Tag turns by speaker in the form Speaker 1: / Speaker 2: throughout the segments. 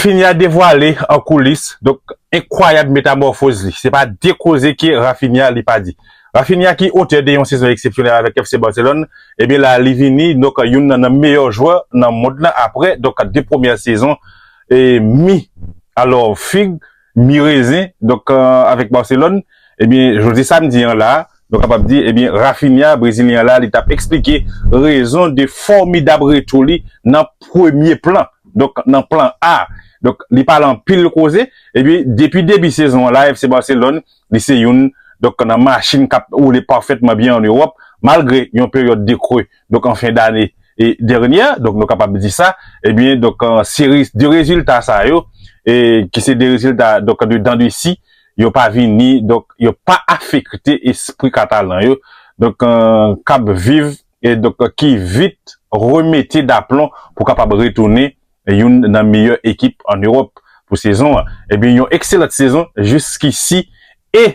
Speaker 1: Finn ya devwale an koulis donk enkwayab metamòfoz li. Se pa de koze ke Raphinha li pa di. Raphinha ki otè de yon sezon eksepsyonèl avèk FC Barcelone, ebyen la li vini donk youn nan nan meyè jwè nan mond lan aprè donk de premyè sezon e mi alò fig mi rezen donk avèk Barcelone ebyen jodi samdi an la a Nou kapab di, ebyen Raphinha, brezilyen an la, li t ap eksplike rezon de fòmidab retou li nan premye plan, donk nan plan A. Donk li pale anpil koze, epi depi debi sezon an la FC Barcelone, li se youn donk nan machin k ap woule pafètman byen an Ewòp, malgre yon peryòd de kre donk an fen dane dènyè, donk nou kapab di sa, ebyen donk seri de rezilta sa yo, ki se de rezilta donk de dan de si. yo pa vini donk yo pa afekte espri katalan yo donk k ap viv e donk ki vit remete daplon pou kapab retounen youn nan meyè ekip an Ewòp pou sezon an ebyen yon ekselant sezon jiskisi e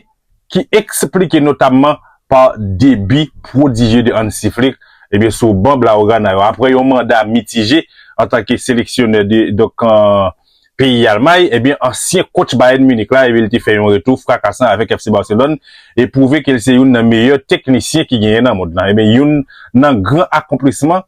Speaker 1: ki esplike notamman pa debi pwodijye de Hansi Flick ebyen sou ban Blaugrana yo aprè yon manda mitije antanke seleksyonè de donk peyi Almay, ebyen ansyen kotch Bayern Munich la ebyen li te fè yon retou frakasan avèk FC Barcelone e pwouve ke li se youn nan meyè teknisyen ki genyen nan mond lan. Ebyen youn nan gran akonplisman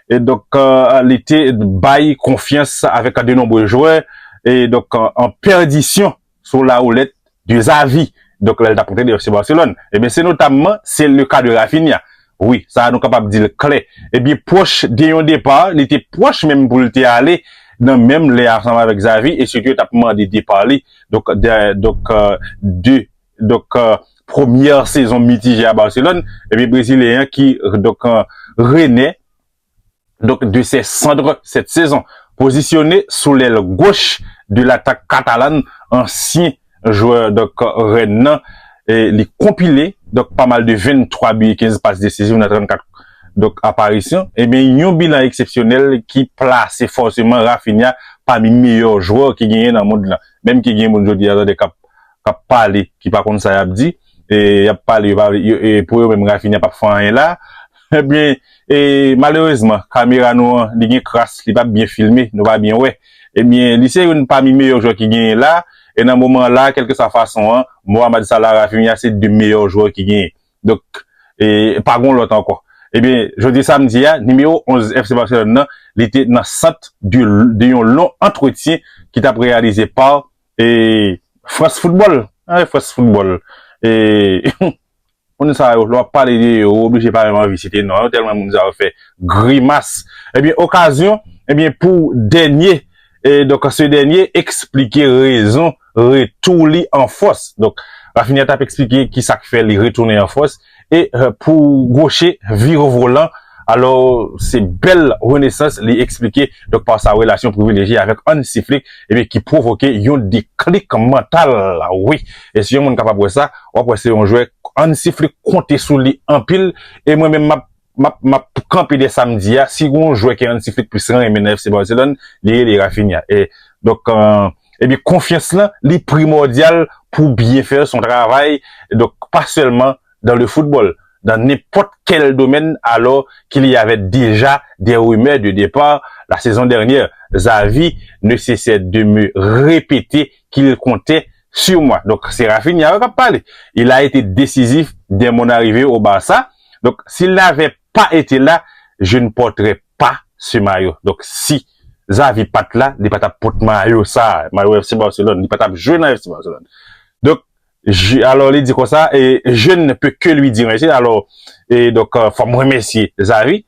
Speaker 1: e donk li te bay konfyans avèk de nonbre jwè e donk an pèdisyon sou la roulette de Xavi donk lè l t ap antrene FC Barcelone ebyen se notamman se le ka de Raphinha wi sa a nou kapab di l klè ebyen pwòch de yon depa li te pwòch menm pou l te ale nan menm lè ansanm avèk Xavi e sitou yo t ap mande depa li donk dè donk de donk premyè sezon mitije a Barcelone ebyen brezilyen an ki donk rene donk de sè sandre sèt sezon, pozisyone sou lèl goch de latak katalan ansyen jwè donk Rennes nan, li konpile donk pa mal de 23 bi e 15 pas desiziv nan 34 donk aparisyon, ebyen yon bilan eksepsyonèl ki plase fòseman Raphinha pami meyè jwè ki genyen nan mond lan, menm ke gen moun jodi a tande kap pale ki pa konn sa yap di. yap pale pou yo menm Rafinha pap fè anyen la ebyen malerezman kamera nou an li gen kras li pap byen filme nou pa byen wè ebyen li se youn pami meyè jwè ki genyen la e nan moman la kelkeswa fason an Mohamed Salah Rafinha se 2 meyè jwè ki genyen donk pa gon lòt ankò ebyen jodi samdi a nimewo 11 FC Barcelone nan li te nan sant de yon lon antretyen ki tap reyalize pa E France football eh France football eh moun sa yo lè wap pale de yo ou oblije pa menm anvi site non yo tèlman moun sa yo fè grimas ebyen okazyon ebyen pou dènye eh donk se dènye eksplike rezon retou li an fòs donk Raphinha tap eksplike kisak fè li retounen an fòs E pou Gwoche, vire volan. Alò, se bèl renesans li eksplike donk pa sa relasyon privilejye avèk Hansi Flick ebyen ki pwovoke yon deklik mantal. Wi, e si yon moun kapab wè sa, w ap wè se yon jwè Hansi Flick konte sou li anpil e mwen menm m ap Map map kanpe dè sam di a si gon jwè ke Hansi Flick plis renmen nan FC Barcelone li rele Raphinha e donk ebyen konfyans lan li primòdyal pou byen fè son travay donk pa sèlman dan le foutbòl dan nenpòt kèl domèn alò kil y avè deja dè rimè de depà la sezon dèrnyè Xavi ne sesè de me repete kil kontè sur moi donk se Raphinha yo kap pale il a ete desizif dè mon arrivee au Barça donk s'il n'avè pa ete la je ne porterai pa ce maillot donk si Xavi pat la li patap pot mayo sa mayo FC Barcelone li patap jwe nan FC Barcelone donk je alò li di konsa e je ne peux que lui dire merci alò e donk fòm remèsye Xavi.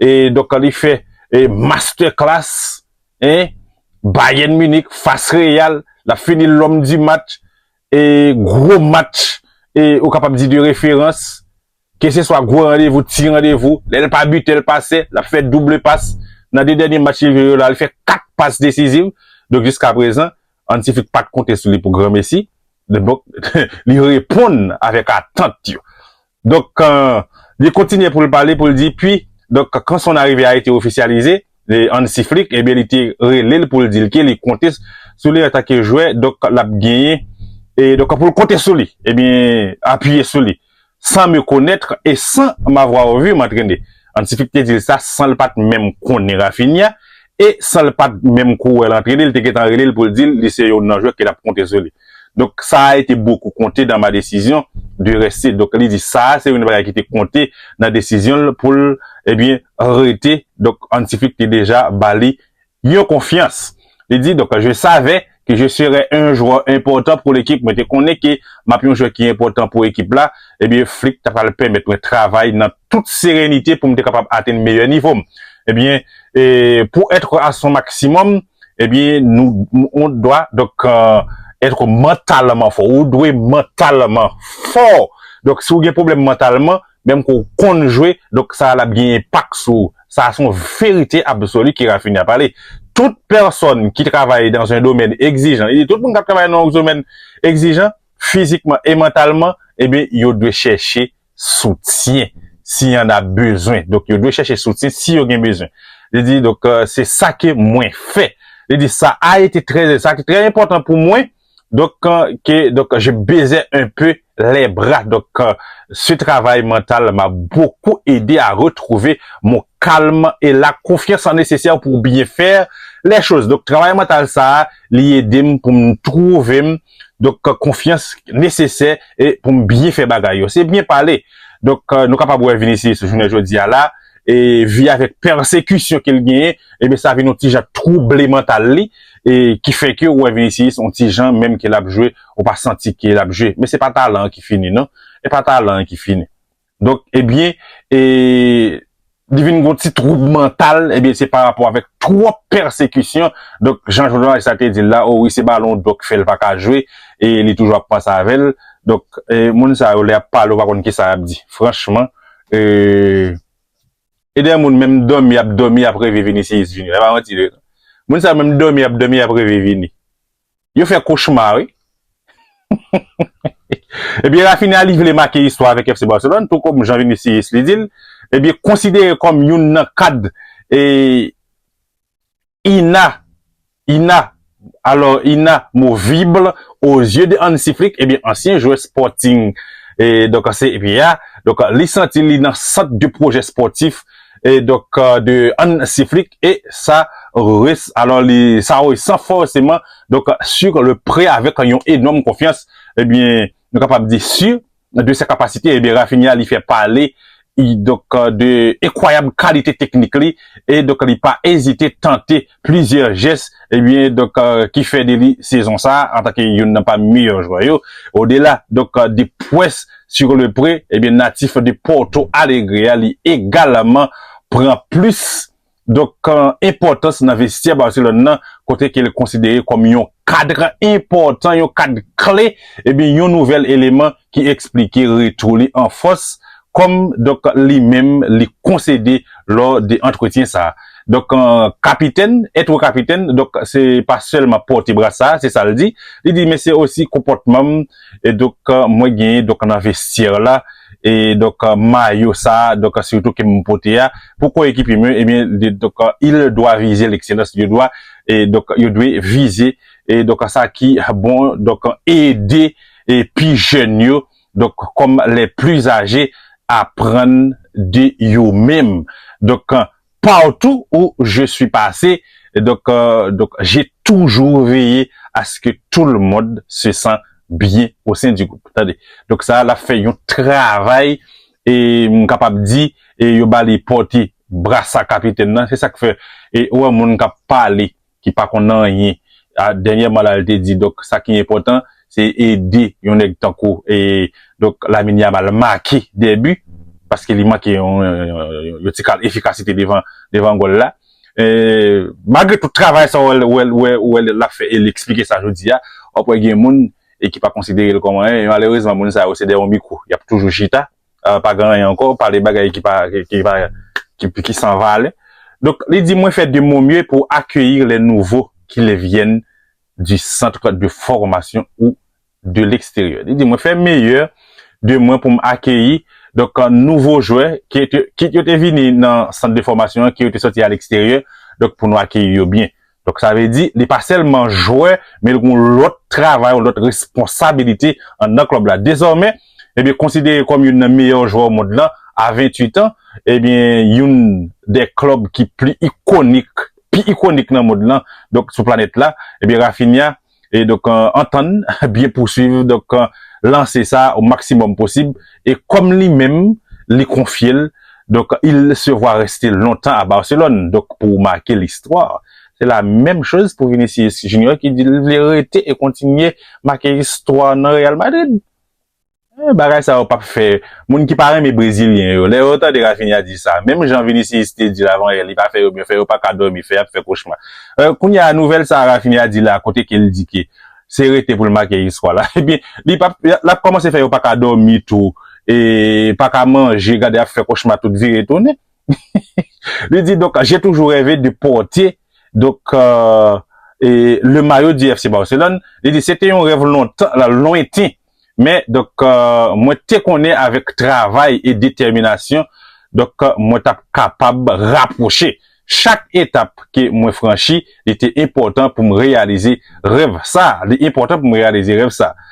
Speaker 1: E donk li fè master class hein Bayern Munich fas Real lap fini l'homme du match e gwo match e ou kapab di de referans ke se swa gwo randevou ti randevou lèl pa bute l pase lap fè double pas nan 2 dènye match li jwe yo la li fè 4 pas desiziv donk jiska prezan Hansi Flick pat konte sou li pou granmesi donk li reponn avèk atant yo Donk, li kontinye pou l pale pou l di, Pi, donk, kan son arive a ete ofisyalize, e Hansi Flick, ebyen li te rele l pou l di l ke li konte sou li antanke jwè, donk, l ap genyen, e donk, pou l konte sou li, ebyen, apiye sou li, sans me connaître et sans m'avoir vu m'entraîner. Antifik te di l sa san l pa t menm konnen Raphinha e san l pa t menm ko wè l antrene, l te gentan rele l pou l di l li se youn nan jwè ke l ap konte sou li. Donk sa a ete bokou konte dan ma desizyon de reste. Donk li di sa a se youn bagay ki te konte nan desizyon l pou l ebyen rete. Donk Antifik te deja ba li Myon konfyans. Li di, donk je savè ke je serè en jwè enpòtan pou lekip, mwen te konnen ke map yon jwè ki enpòtan pou ekip la, ebyen Flick ta pral pèmèt mwen travay nan tout serenite pou m te kapab atenn meyè nivo m. Ebyen pou être à son maximum, ebyen nou on dwa donk être mantalman fò, ou dwe mantalman fò, donk si ou gen pwoblèm mantalman, Menm ke w konn jwe, donk sa a l ap gen enpak sou ou. Sa a se yon verite absoli ke Raphinha pale. Tout pèsòn ki travay dans un domaine exigeant, li di tout moun k ap travay nan yon domaine exigeant, fizikman e mantalman, ebyen yo dwe chèche soutyen si y en a besoin. Donk yo dwe chèche soutyen si yo gen bezwen. Li di donk se sa ke mwen fè. Li di sa a ete trè, sa ki trè enpòtan pou mwen, Donc que donc je baiser un peu les bras donc ce travail mental m'a beaucoup aidé à retrouver mon calme et la confiance en nécessaire pour bien faire les choses donc travail mental sa a li edem pou m trouve m donc confiance nécessaire et pou m bien fè bagay yo se bien pale donc nou kapab wè Vinicius jounen jodi a la e vi avèk persecution ke l genyen ebyen sa vin yon ti jan trouble mental li. e ki fè ke ou wè Vinicius on ti jan menm ke lap jwe ou pa santi ke lap jwe men se pa talan an ki fini non e pa talan an ki fini donk ebyen e li vin gon ti twoub mantal ebyen se parapò avèk twòp pèsekisyon donk jan jounalaj sa te dil la o wi se balon dò k fèl pa ka jwe e li toujou ap panse avèl donk e moun sa yo lè yap pale ou pa konn kisa yap di franchman e. E dè moun menm dòmi yap dòmi yap reve vinicius vini la epa manti vre non moun sa yo menm dòmi yap dòmi yap reve vini yo fè kochma wi ebyen Raphinha li vle make istwa avèk FC Barcelone tou kòm jan vinicius li dil ebyen konsidere kòm youn nan kad e. Ina Ina Alò Ina movible o zye de Hansi Flick ebyen ansyen jwè Sporting e donk an se epi a donk li santi li nan sant de pwojè spòtif e donk de Hansi Flick e sa res alò li sa resan fòseman donk sur le pre avèk yon enòm konfyans ebyen nou kapab di sur de ses capacités, eh bien Raphinha li fè pale donc de enkwayab kalite teknik li e donc li pa ezite tante plizyè jès eh bien donc ki fè de li sezon sa antanke youn nan pami meyè jwè yo odela donc de pwès sur le pre eh bien natif de Porto Alegre a li egalman pran plis Donk kan enpòtans nan vestyè Barcelone nan kote ke l konsidere kòm yon kadr enpòtan, yon kadr kle, ebyen yon nouvèl eleman ki eksplike retou li an fòs kòm donk li menm li konsede lò de antretyen sa. Donk kapitèn, ètre kapitèn donk se pa sèlman pòte brasa, se sa l di, li di men se osi konpòtman m, e donk mwen genyen donk nan vestyè la e donk mayo sa donk sitou ke m pote a pou koyekipye m yo ebyen donk il dwa vize lekselans yo dwa e donk yo dwe vize e donk sa ki bon donk ede e pi jèn yo donk kòm lè pli aje aprann de yo menm donk. Partout où je suis passé, donc donc j'ai toujours veillé à ce que tout le monde se sent bien au sein du groupe. Tande. Donc sa a l ap fè yon travay e m kapab di e yo ba li pòte brasa kapitèn nan. Se sa k fè ou wè moun k ap pale ki pa konn anyen a dènyèman la li te di donk sa ki enpòtan se ede yon nèg tankou e donk Lamine Yamal make 2 bi paske li manke yon yon ti kal efikasite devan devan gòl la e malgre tout travay sa wè ou wè l ap fè e li eksplike sa jodi a wap wè gen moun e ki pa konsidere l kòm anyen e malerezman moun sa yo se dèyè yon mikwo y ap toujou chita. pa gen anyen ankò, pale bagay ki pa, ki pa, ki san valè. Donk, li di, mwen fè de mon mye pou akeyir lè nouvo ki le vyèn di centre de formation ou de l'extérieur. Li di, mwen fè meyè de mwen pou m akeyi, donk, nouvo jwè, kit yo te vini nan sant de fòmasyon an, ki yo te sòti a l'extérieur, donk, pou nou akeyi yo byen. Donk sa vle di li pa sèlman jwè men li gen yon lòt travay, yon lòt responsabilite anndan klòb la. Dezòmè, ebyen konsidere kòm youn nan meyè jwè o mond lan a 28 an, ebyen youn dè klòb ki pli ikonik, pi ikonik nan mond lan, donk sou planèt la, ebyen Raphinha e donk antann byen pouswiv donk lanse sa o maksimòm posib e kòm li menm li konfye l donk il se vwa reste lontan a Barcelone donk pou make listwa se la menm choz pou Vinicius Junior ki di l vle rete e kontinye make istwa nan Real Madrid. Ehh bagay sa yo pap fè Moun ki pa renmen brezilyen yo lè yo tande Raphinha di sa menm jan Vinicius te dil avan yè li pa fè yo byen fè yo pa ka dòmi fè yap fè kochma euh kounya nouvèl sa Raphinha di la kote kel di ke se rete poul make iskwa la ebyen li pap lap kòmanse fè yo pa ka dòmi tou e pa ka manje gade yap fè kochma tout vire tounen li di donk je toujou rève de pòte donk euh le mayo di FC Barcelone li di se te yon rèv lontan lwen ten Men, donk, mwen te konnen avèk travay e detèminasyon, donk, mwen t ap kapab rapwoche. Chak etap ke mwen franchi, li te enpòtan pou m reyalize rèv sa a. Li enpòtan pou m reyalize rèv sa a.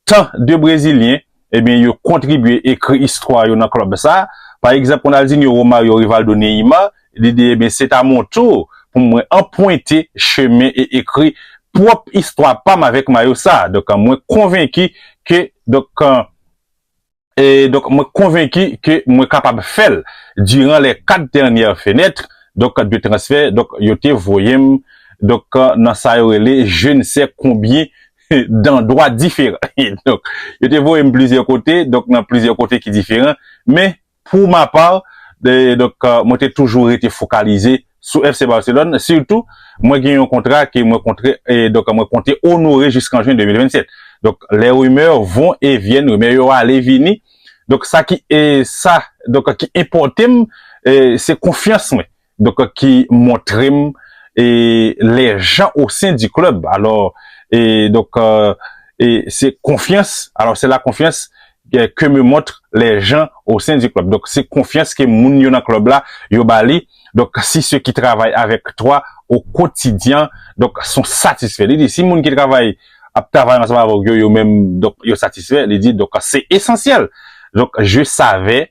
Speaker 1: Tan de Brezilyen, ebyen, yo kontribye ekri istwa yo nan klòb sa a. Pa egzanp, Ronaldinho, Romario, Rivaldo, Neymar, Li di, Ebyen, se ta mon tour pou mwen anpwente chemen e ekri pwòp istwa pa m avèk mayo sa a. Donk, mwen konvenki ke, donk, e, donk, mwen konvenki ke mwen kapab fè l. Diran lè kat dènyè fenètre, donk, de transfè, donk, yo te voye m, donk, nan sa yo rele je ne sais combien d'endroits différents. Donk, yo te voye m plizyè kote, donk, nan plizyè kote ki diferan, men, Pou ma part, donk mwen te toujou rete fokalize sou FC Barcelone, sitou mwen gen yon kontra ke mwen kontre donk mwen konte onore jiskan Juin 2027. Donk les rumeurs vont et viennent, rumè yo ale vini, donk sa ki sa donk ki enpòte m se konfyans mwen donk ki montre m e lè jan o sen di club alò e donk e se konfyans alò se la konfyans e ke me montre lè jan o sen di club donk se konfyans ke moun yo nan club la yo ba li donk si se ki travay avèk twa o kotidyan donk son satisfè li di si moun ki travay ap travay ansanm avèk yo yo menm donk yo satisfè li di donk se esansyèl donk je savais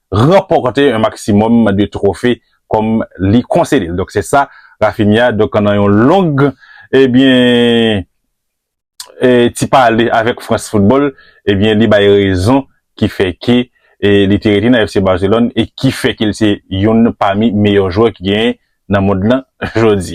Speaker 1: ranpòte yon maksimòm de twofe kòm li konsede l. Donk se sa Raphinha donk nan yon long ebyen ti pale avèk France Football ebyen li bay rezon ki fè ke li te rete nan FC Barcelone e ki fè ke l se youn pami meyò jwè ki genyen nan mond lan jodi.